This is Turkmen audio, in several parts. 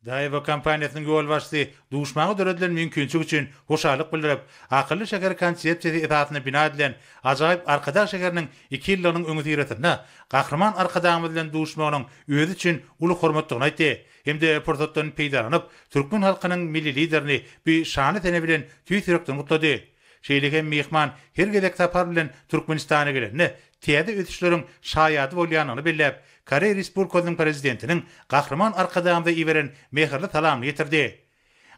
Daewoo kompaniýasynyň ýolbaşçysy duşmaňa döredilen mümkinçilik üçin hoşallyk bildirip, akylly şäher konsepsiýasy esasynda bina edilen ajaýyp Arkadag şäheriniň iki ýyllygynyň öňüsyrasynda Gahryman Arkadagymyz bilen duşmagynyň özi üçin uly hormatdygyny aýtdy hem-de pursatdan peýdalanyp, türkmen halkynyň Milli Liderini bu şanly sene bilen tüýs ýürekden gutlady. Şeýle hem myhman her gezek sapar bilen Türkmenistana gelende, täze ösüşleriň şaýady bolýandygyny belläp, Koreý Respublikasynyň Prezidentiniň Gahryman Arkadagymyza iberen mähirli salamyny ýetirdi.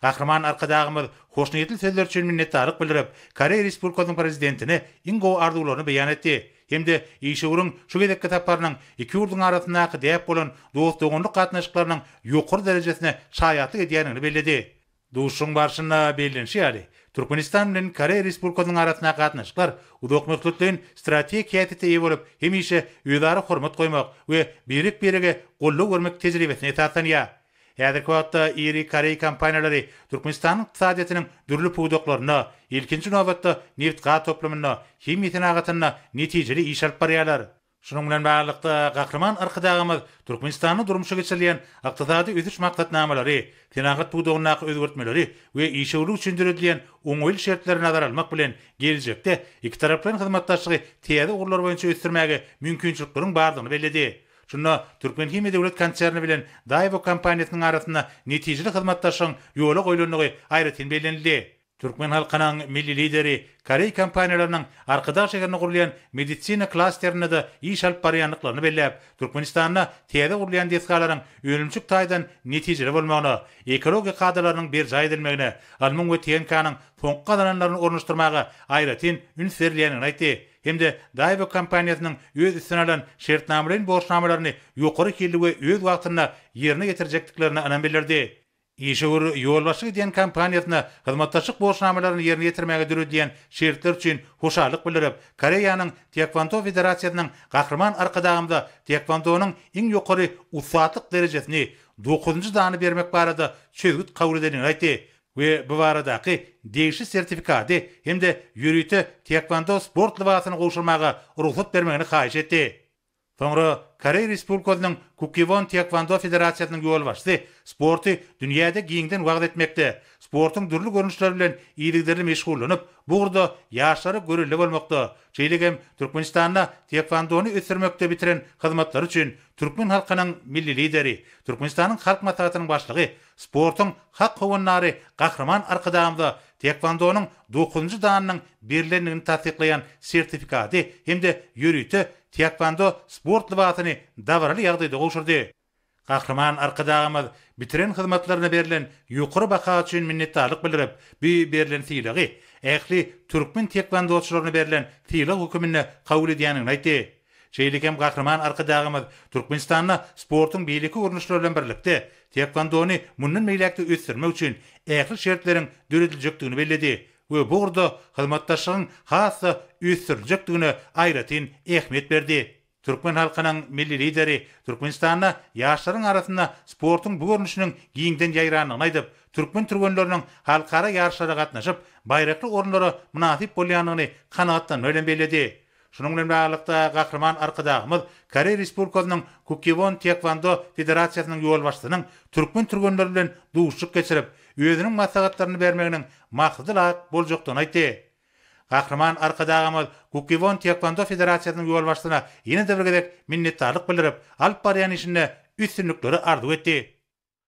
Gahryman Arkadagymyz hoşniýetli sözleri üçin minnetdarlyk bildirip, Koreý Respublikasynyň Prezidentine iň gowy arzuwlaryny beýan etdi hem-de işewüriň şu gezekki saparynyň iki ýurduň arasyndaky däp bolan dost-doganlyk gatnaşyklarynyň ýokary derejesine şaýatlyk edýändigini belledi. Duşuşygyň barşynda bellenişi ýaly, Türkmenistan bilen Koreýa Respublikasynyň arasyndaky gatnaşyklar uzakmöhletleýin strategik häsiýete eýe bolup, hemişe özara hormat goýmak we birek-birege goldaw bermek tejribesine esaslanýar. Häzirki wagtda iri koreý kompaniýalary Türkmenistanyň ykdysadyýetiniň dürli pudaklarynda, ilkinji nobatda, nebit-gaz toplumynda, himiýa senagatynda netijeli iş alyp barýarlar. Şunuň bilen baglylykda, Gahryman Arkadagymyz Türkmenistanda durmuşa geçirilýän ykdysady ösüş maksatnamalary, senagat pudagyndaky özgertmeleri we işewürlik üçin döredilýän oňaýly şertleri nazara almak bilen, geljekde ikitaraplaýyn hyzmatdaşlygy täze ugurlar boýunça ösdürmäge mümkinçilikleriň bardygyny belledi. Şunda Türkmenhimiýa döwlet konserni bilen Daewoo kompaniýasynyň arasynda netijeli hyzmatdaşlygyň ýola goýlandygy aýratyn bellenildi. Türkmen halkynyň Milli Lideri koreý kompaniýalarynyň Arkadag şäherinde gurulýan medisina klasterinde-de iş alyp barýandyklaryny belläp, Türkmenistanda täze gurulýan desgalaryň önümçilik taýdan netijeli bolmagyna, ekologiýa kadalarynyň berjaý edilmegine, ylmyň we TNK-nyň soňky gazananlaryny ornaşdyrmaga aýratyn üns berilýändigini aýtdy hem-de Daewoo kompaniýasynyň öz üstüne alan şertnamalaýyn borçnamalaryny ýokary hilli we öz wagtynda ýerine ýetirjekdiklerine ynam bildirdi. Işewür ýolbaşçylyk edýän kompaniýasyna hyzmatdaşlyk borçnamalaryny ýerine ýetirmäge döredilýän şertler üçin hoşallyk bildirip, Koreýanyň Taekwondo federasiýasynyň Gahryman Arkadagymyza taekwondonyň iň ýokary ussatlyk derejesini, dokuzynjy dany bermek barada çözgüt kabul edendigini aýtdy we bu baradaky degişli sertifikady hem-de ýörite taekwondo sport lybasyny gowşurmaga rugsat bermegini haýyş etdi. Soňra Koreý Respublikasynyň Kukkiwon Týekwondo federasiýasynyň ýolbaşçysy sporty dünýäde giňden wagyz etmekde, sportuň dürli görnüşleri bilen yzygiderli meşgullanyp, bu ugurda ýaşlara görelde bolmakda, şeýle hem Türkmenistanda týekwondony ösdürmekde bitiren hyzmatlary üçin türkmen halkynyň Milli Lideri, Türkmenistanyň Halk Maslahatynyň Başlygy, sportuň hak howandary Gahryman Arkadagymyza týekwondonyň dokuzynjy danynyň berlendigini tassyklaýan sertifikady hem-de ýörite Týekwondo sport lybasyny dabaraly ýagdaýda gowşurdy. Gahryman Arkadagymyz bitiren hyzmatlaryna berlen ýokary baha üçin minnetdarlyk bildirip, bu berlen sylagy ähli türkmen týekwondoçylaryna berlen sylag höküminde kabul edýändigini aýtdy. Şeýle hem Gahryman Arkadagymyz Türkmenistanda sportuň beýleki görnüşleri bilen birlikde, týekwondony mundan beýläk-de ösdürmek üçin ähli şertleriň dörediljekdigini belledi we bu ugurda hyzmatdaşlygyň has-da ösdüriljekdigine aýratyn ähmiýet berdi. Türkmen halkynyň Milli Lideri Türkmenistanda ýaşlaryň arasynda sportuň bu görnüşiniň giňden ýaýrandygyny aýdyp, türkmen türgenleriniň halkara ýaryşlara gatnaşyp, baýrakly orunlara mynasyp bolýandygyny kanagatlanma bilen belledi. Şunuň bilen baglylykda, Gahryman Arkadagymyz Koreý Respublikasynyň Kukkiwon Týekwando federasiýasynyň ýolbaşçysynyň türkmen türgenleri bilen duşuşyk geçirip, özüniň maslahatlaryny bermeginiň maksadalap boljakdygyny aýtdy. Gahryman Arkadagymyz Kukkiwon Týekwando federasiýasynyň ýolbaşçysyna ýene-de bir gezek minnetdarlyk bildirip, alyp barýan işinde üstünlikleri arzuw etdi.